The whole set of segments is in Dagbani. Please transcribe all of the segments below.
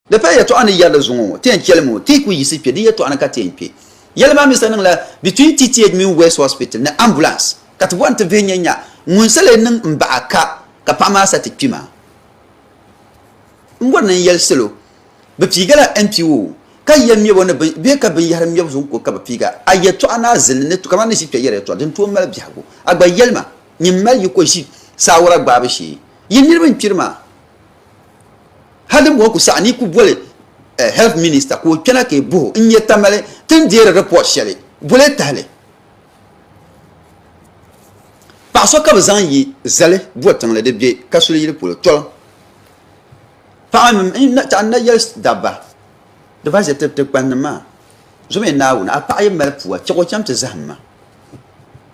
Di paya yɛtɔɣa ni yɛri di zuŋɔ ŋɔ, Ti yɛn chɛlimi o, ti yi ku yiɣisi kpe di yɛtɔɣa ni ka ti yɛn kpe. Yɛli maa mi sa niŋla between TTH mini West Hospital ni ambulance ka ti bɔri ni ti vihi nya nya ŋun sa lee niŋ m baɣa ka ka paɣa maa sa ti kpi maa. N bɔri ni n yɛli salo bɛ piigila NPO ka yɛn ŋmɛb o ni bɛ ka binyɛhiri ŋmɛbu zuɣu ku ka bɛ piiga. A yɛtɔɣa ni a zilli ni kamani ni ʒi kpe yɛri yɛtɔɣa din tooi mali biɛhigu. A gba yɛli ma nyin mali yi ko ʒi saawara gbaabu shee. Yi niriba n kpiri maa. Hal din bɔhi ku saɣi ni ku boli eh, Health Minister ka o kpɛna ka e buhi o n-nyɛ Tamale ti ni deeri report shɛli boli e tahili. Paɣa so ka bɛ zaŋ yi zali Botiŋli di be Kasuli yili polo Tɔlim. Paɣa mini n taɣi na yɛli dabba di ba ʒe ti kpannim maa zuɣu mi Naawuni a paɣa yi mali pua chɛg o chaŋ ti zahim ma.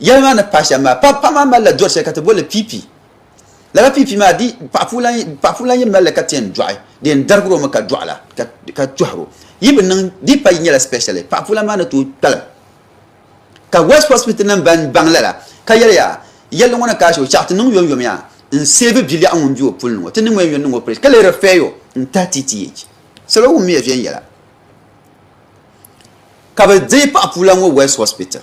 Yɛli maa ni pahi shɛm maa, paɣ paɣ maa malila dɔri shɛli ka ti boli li piipi. Lala piipi maa di paɣ puu lan paɣ puu lan yi mali li ka ti yɛn dɔɣi di yɛn darigir o mi ka dɔɣi la ka ka tɔhir o. Yi bi niŋ di pa yi nyɛla specially paɣ puu lan maa ni tooi kpalim. Ka West Hospital nim ban baŋ lala ka yɛli yaa yɛlli ŋɔ ni ka ashi o chɛɣu ti niŋ yom yom yaa n seevi biliɛɣu ŋun be o puli ni ŋɔ ti niŋ o yɛn yɔn niŋ o operation ka lee refer o n tahi TTH. Salo wum miya viɛnyɛla ka bi deei paɣ puu lan ŋɔ West Hospital.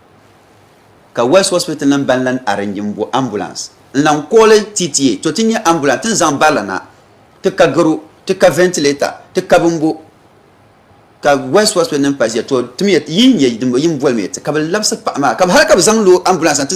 Ka West Hospital nim ban lan arrange n bo ambulance n lan kooli TTA to ti nya ambulance tin zaŋ barila na ti ka garo ti ka ventilator ti ka bin bo ka West Hospital nim paziya to timiya yi n nya din bo yin bolimiya ti ka bi labisi paɣa maa ka hali ka bi zaŋ lo ambulance na ti